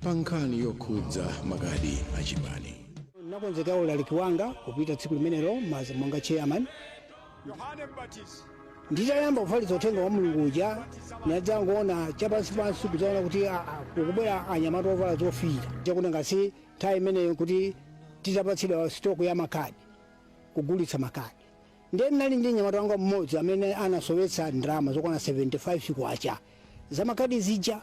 pa nkhani yokhudza makadi achipani ndinakonzekera ulaliki wanga kupita tsiku limenelo monga chairman yohane mbatizi nditayamba kufalitsa uthenga wa mulungu uja ndinadzangoona chapansipansi kudzaona kuti a- a- kukubwera anyamata ovala zofiira chakuti ngati nthawi imeneyo kuti titapatsidwa stock ya makadi kugulitsa makadi ndiye ndinali ndi nyamata wanga mmodzi amene anasowetsa ndalama zokwana 75 kwacha za makadi zija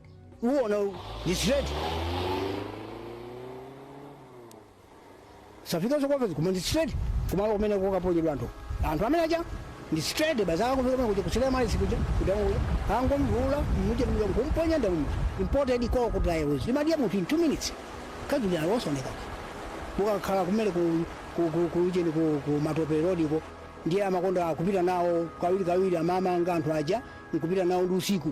uwona uwu ndi straight safika zokopezo koma ndi straight kumalo kumene kokaponyedwa anthu anthu amene aja ndi straight basi akakufika pano kuja kuchitira mali sikuja kudamu kuja angomvula muje muje kumponya nda muje imported call ku diaries imadya munthu in 2 minutes kaduli alosoneka mukakhala kumene ku ku ku ku ujeni ku ku matope road ko ndiye amakonda kupita nawo kawiri kawiri amamanga anthu aja nkupita nawo ndi usiku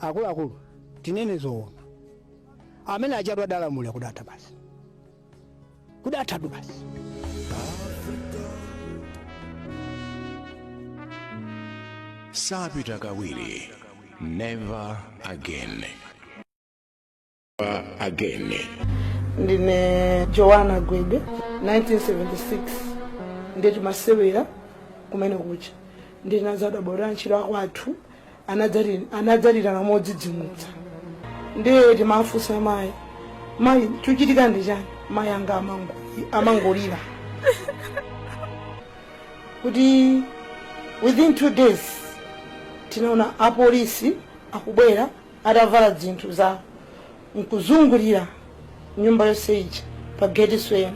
akuluakulu tinene zoona amene achatu adalamulira kudatha basi kudathatu basi sapita kawiri never again again ndine joana gwede 1976 ndiye timasewera kumene kucha ndi anzathu abwera antchito akwathu anadzati- anadzatitana modzidzimutsa ndiye timawafunsa amayi mayi chochitika ndi chani mayi anga amango- amangolira within two days tinaona apolisi akubwera atavala zinthu zawo nkuzungulira nyumba yonse ija pa geti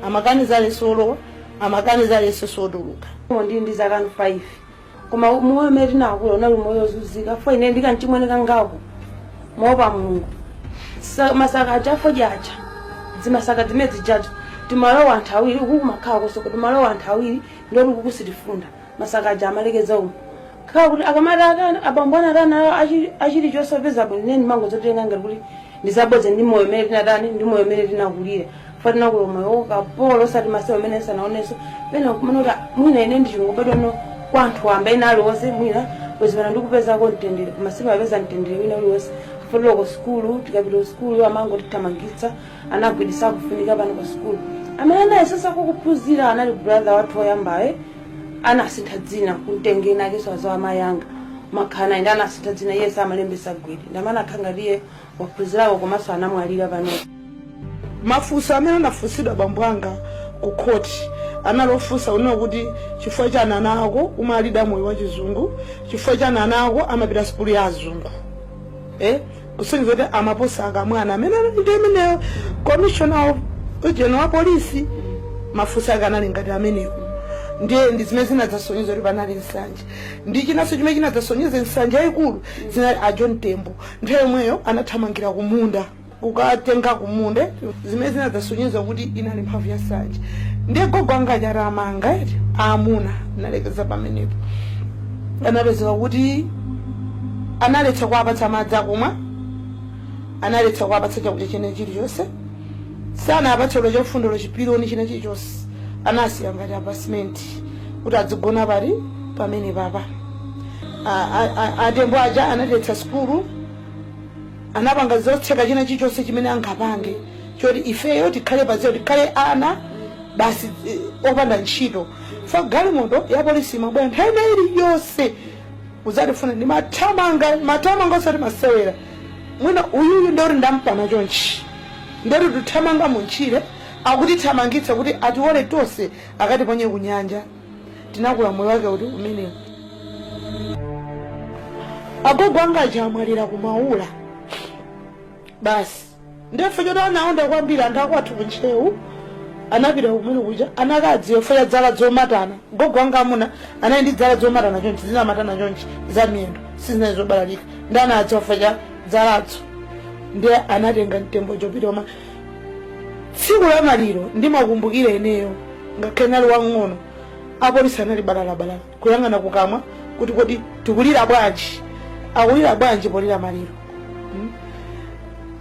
amakaniza aliyense olowa amakaniza aliyense otuluka ndi ndi zaka 5 koma moyo umene tinakula unali moyo wozunzika fo ine ndi kamchimwene kangako moopa mulungu Sa- masaka aja afodya aja zimasaka zimene zijaja timalowa anthu awiri ukukumakhala kosoko timalowa anthu awiri ndoti sitifunda masaka aja amalekeza umu khala kuti akamati aka- abambo anati anawa achili chosapeza bwino neni mangozitenga ngati kuti ndizabodza ndi moyo umene tinatani ndi moyo umene tinakulira fa tinakula moyo wokapolo osati masiku amene sanaonenso pena kumene kuti mwina ine ndichingobadwa no kwa anthu amba ena aliwonse mwina kuzimana ndi kupezako mtendere koma simapeza mtendere wina uliwonse fotolo ku sukulu tikapita ku sukulu amangotithamangitsa ana a gwede sakufunika pano ku sukulu amene anayesetsako kuphunzira anali brother wathu oyambayo anasintha dzina anamtenga ndi akezi awo a amayi anga amakhala nawo ende anasintha dzina iye samalembetsa gwede nde amene akhala ngati iye waphunzirako komanso anamwalira pano mafunso amene anafunsidwa bambo anga ku khoti anali ofunsa kunena kuti chifukwa chani ana ako umawalera moyo wa chizungu chifukwa chani ana ako amapita sukulu ya azungu eh? kusonyeza kuti amaposa a Kamwana amene anali nthawi imeneyo commissioner wa polisi mafunso ake anali ngati amenewo ndiye ndi zimene zinadzasonyeza kuti panali nsanje ndi chinanso chimene chinadzasonyeza nsanje yayikulu zinali a john tembo nthawi yomweyo anathamangira kumunda kukatenga kumunda zimene zinadzasonyeza kuti inali mphamvu ya nsanje ndiye gogo anga achati amanga eti aamuna analekeza pamenepo anapezeka kuti analetsa kuwapatsa madzi akumwa analetsa kuwapatsa chakudya chene chilichonse sanapatse olo chofunda chipiloni china chilichonse anawasiya ngati pa simenti kuti adzigona pali pamenepapa A- a- a- atembo aja analetsa sukulu anapanga zotseka china chilichonse chimene angapange choti ifeyo tikhale pa zero tikhale ana basi eh, opanda ntchito ya galimoto ya polisi imabwera nthawi ina iliyonse kudzatifuna ndimathamanga ndimathamanga osati masewera mwina uyuyu ndili ndampana chonchi ndiye tikuthamanga muntchire akutithamangitsa kuti atiwole tonse akatiponye kunyanja tinakula moyo wake kuti umenewu agogo anga aja anamwalira kumaula basi ndiye choti anaonda kwambiri anthu akwathu ku ntcheu anapita kumene kuja anakadziwa chifukwa cha dzala dzomatana gogo wanga amuna anali ndi dzala dzomatana chonchi zinamatana chonchi za miyendo sizinali zobalalika ndiye anadziwa chifukwa cha dzaladzo ndiye anatenga mtembo kupita koma tsiku la maliro ndimakumbukira ineyo ngakhale nali wang'ono apolisi anali balalabalala kuyang'ana kukamwa kuti kodi tikulira bwanji akulira bwanji polira maliro mm?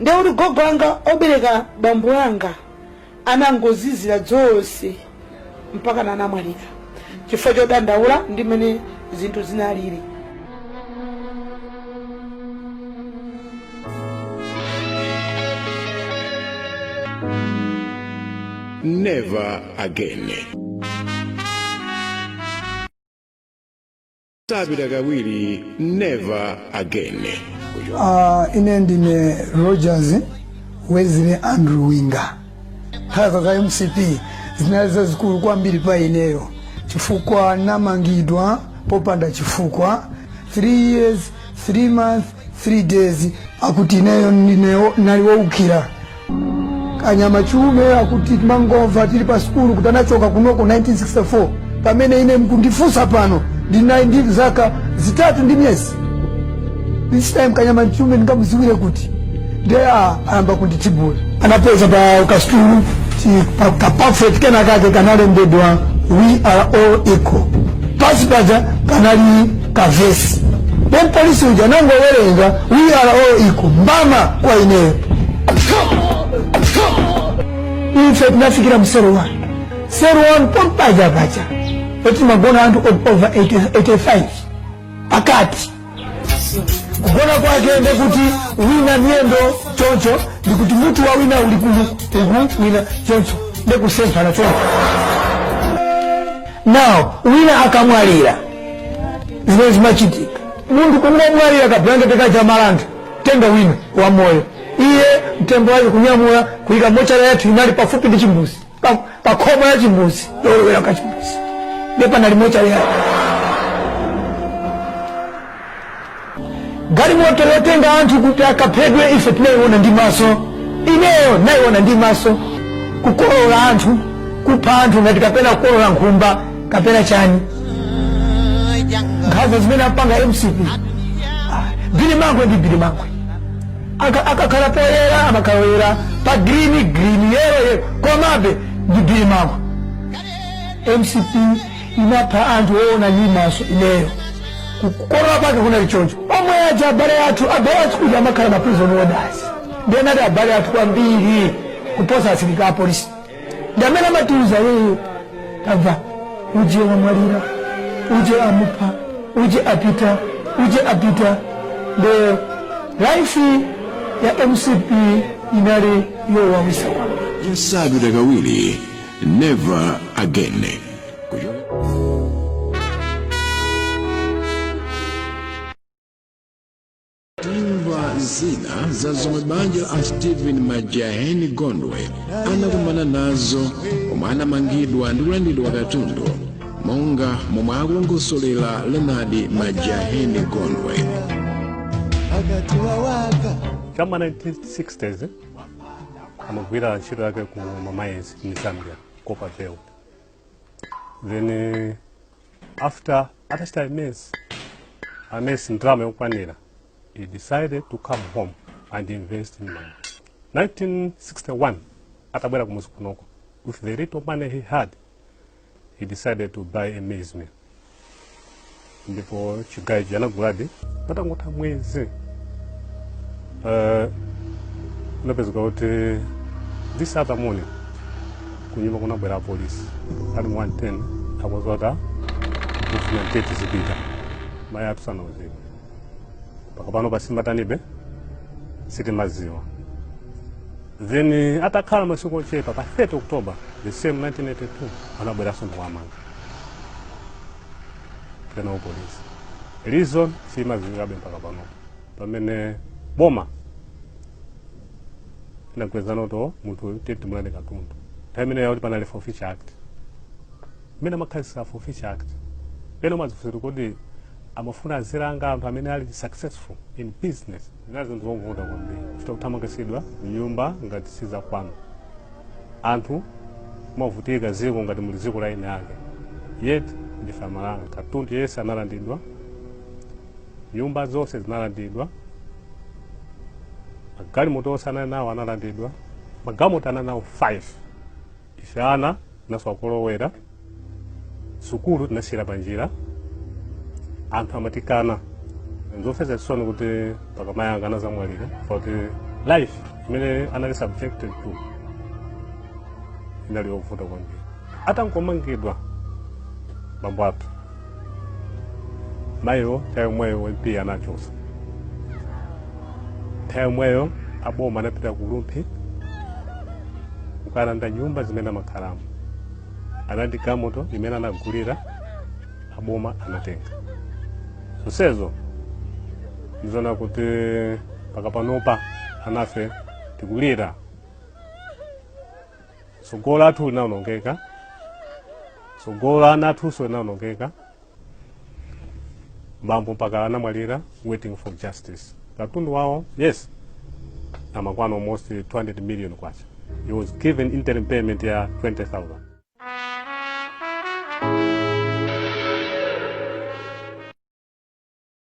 ndiye kuti gogo anga obereka bambo anga anangozizira zonse mpaka anamwalira chifukwa chodandaula ndi mmene zinthu zinalili Never again. Tabita kawiri never again. Uh, ine ndine rogers wesley andrew winga nkhanza za mcp zinali zazikulu kwambiri pa ineyo chifukwa namangidwa popanda chifukwa 3 years 3 months 3 days akuti ineyo ndineyo nali woukira kanyama chiume amene timangomva tili pa sukulu kuti anachoka kunoko 1964 pamene ine mkundifunsa pano ndinali ndi zaka zitatu ndi miyezi this time kanyama chiume ndingamudziwire kuti nde a ayamba kunditibula anapeza pa kastulu ka buffet kena kake kanalembedwa we are all equal pansi paja panali kavesi then polisi uja anangowerenga we are all equal mbama kwa ineyo ife tinafikira mu cell 1 cell 1 pompaja paja oti magona anthu over 80 85 pakati kugona kwake ndekuti wina miyendo choncho ndikuti mutu wa wina uli uku wina choncho ndekusemphana choncho now wina akamwalira zimene zimachitika munthu kungomwalira kabulangete kaja amalanda tenga wina wa moyo iye mtembo wake kunyamula kuyika mortuary yathu inali pafupi ndi chimbuzi pa, pa khomo la chimbuzi lolowera ka chimbuzi ndiye panali mortuary galimoto yotenga anthu kuti akaphedwe ife tinayiona ndi maso ineyo nayiona ndi maso kukolola anthu kupha anthu ngati kapena kukolola nkhumba kapena chani nkhanza zimene amapanga mcp Ah, bilimankhwe ndi bilimankhwe Aka- akakhala poyera amakhala oyera pa green green yellow yellow komabe ndi bilimankhwe mcp imapha anthu oona ndi maso ineyo kukolola kwake kunali choncho omwe aja abale athu abale athu kuti amakhala ma prison warders ndiye anali abale athu kwambiri kuposa asilikali apolisi ndi amene amatiuza iyeyo tamva uje wamwalira uje amupha uje apita uje apita nde life ya mcp inali yowawisa kwambiri isabwere kawiri never again timva zina za zomwe banja la stephen majaheni gondwe anakumana nazo omwe anamangidwa ndi kulandidwa katundu monga momwe akulongosolera leonard majaheni gondwe kuma 1960s eh, amagwira ntchito yake ku ma mines mu zambia copperbelt then eh, after atachita amass amass ndalama yokwanira he decided to come home and invest in Malawi. 1961 atabwera kumuzi kunoko with the little money he had he decided to buy a maize mill ndipo chigayo ichi anaguladi patangotha mwezi uh, kunapezeka kuti this other morning kunyumba kunabwera apolisi ali mu 110 akozota kufuna mteti zipita mayi athu sanauzidwe mpaka pano pasimatanibe sitimaziwa then eh, atakhala masiku ochepa pa 30 october the same 1982 anabweranso ndikuwamanga tena apolisi reason simaziwikabe mpaka pano pamene boma tinagwirizana kuti munthu uyu tiye timulande katundu nthawi imeneyo kuti panali forfeiture act imene amakhazikitsa forfeiture act pena umadzifunsira kuti amafuna azilanga anthu amene ali successful in business zina zinthu zovuta kwambiri chita kuthamangitsidwa m'nyumba ngati sizakwanu anthu kumavutika m'dziko ngati muli dziko la eni ake yet ndife amalawi katundu yense analandidwa nyumba zonse zinalandidwa magalimoto onse anali nawo analandidwa magalimoto anali nawo 5 ife ana tinasowa kolowera sukulu tinasiyira panjira anthu amatikana nzomvetsa chisoni kuti mpaka mayi anga anadzamwalira kuti life imene anali subjected to inali yovuta kwambiri atangomangidwa bambo athu mayiyo nthawi yomweyo MP anawachotsa nthawi yomweyo aboma anapita ku lumphi kukalanda nyumba zimene amakhalamo ndi galimoto imene anagulira aboma anatenga zonsezo ndizona kuti mpaka panopa anafe tikulira tsogolo lathu linawonongeka tsogolo la ana athunso linawonongeka bambo mpaka anamwalira waiting for justice katundu wawo yense amakwana almost 200 million kwacha he was given interim payment ya 20000 Thank you.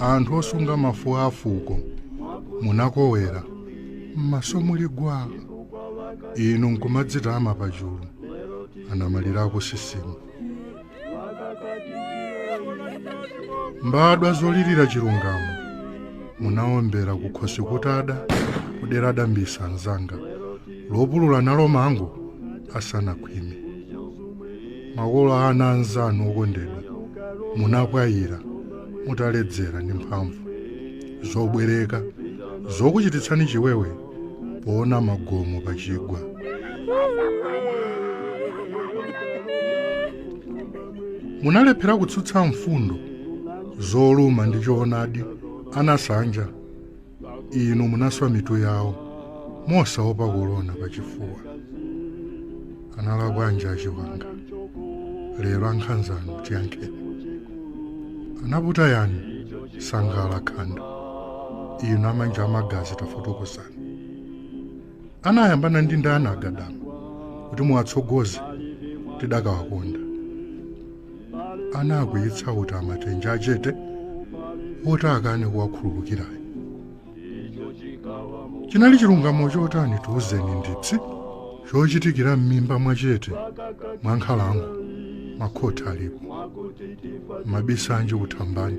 anthu osunga mafuko a fuko munakolera m'maso muli gwa inu nkumadzitama pachulu anamalira akusisimu mbadwa zolirira chilungamo munaombera kukhosi kutada kudera dambisa nzanga lopulula nalo mango asanakhwime makolo a ana anzanu okondedwa munapwayira mutaledzera ndi mphamvu zobwereka zokuchititsani chiwewe poona magomo pa chigwa munalephera kutsutsa mfundo zoluma ndi choonadi anasanja inu munaswa mitu yawo mosaopa kolona pachifuwa analakwanji a Chiwanga lero ankhanzanu tiyankheni anaputa yani Sangala khanda inu a manja a magazi tafotokozani anayambana ndi ndani a Gadama kuti muwatsogoze tikadawakonda anaakwiyitsa kuti amatenja achete oti akane kuwakhululukirayo chinali chilungamo chotani tiuzeni ndipsi chochitikira m'mimba mwachete mwa nkhalango makhoti alipo mabisa anji kuthambani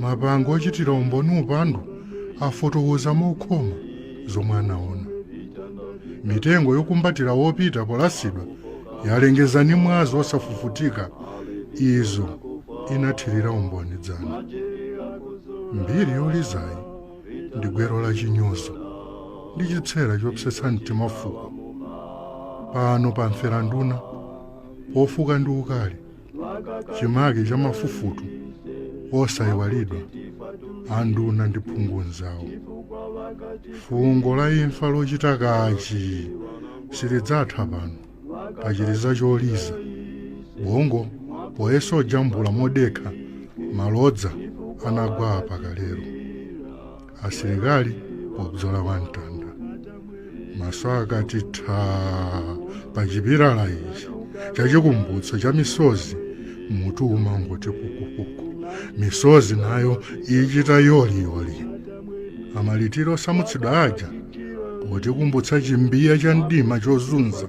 Mabango ochitira umboni upandu afotokoza mokhoma zomwe anaona. Mitengo yokumbatira wopita polasidwa yalengeza ndi mwazi wosafufutika izo inathirira umboni dzana. Mbiri yolizayi ndi gwero la chinyozo ndi chipsera chopsetsa mtima fuko. Pano pamfera nduna pofuka ndi ukali. chimake cha mafufutu osayiwalidwa anduna ndi phungu nzawo fungo la imfa lochita kachi silidzatha pano pachiliza choliza bongo poyesa kujambula modekha malodza anagwa apa kalelo asilikali pobzola kwa mtanda maso akati thaa pa chipilala ichi chachikumbutso cha misozi mutu umangoti kukukuku misozi nayo ichita yoliyoli amalitiro osamutsidwa aja potikumbutsa chimbiya cha mdima chozunza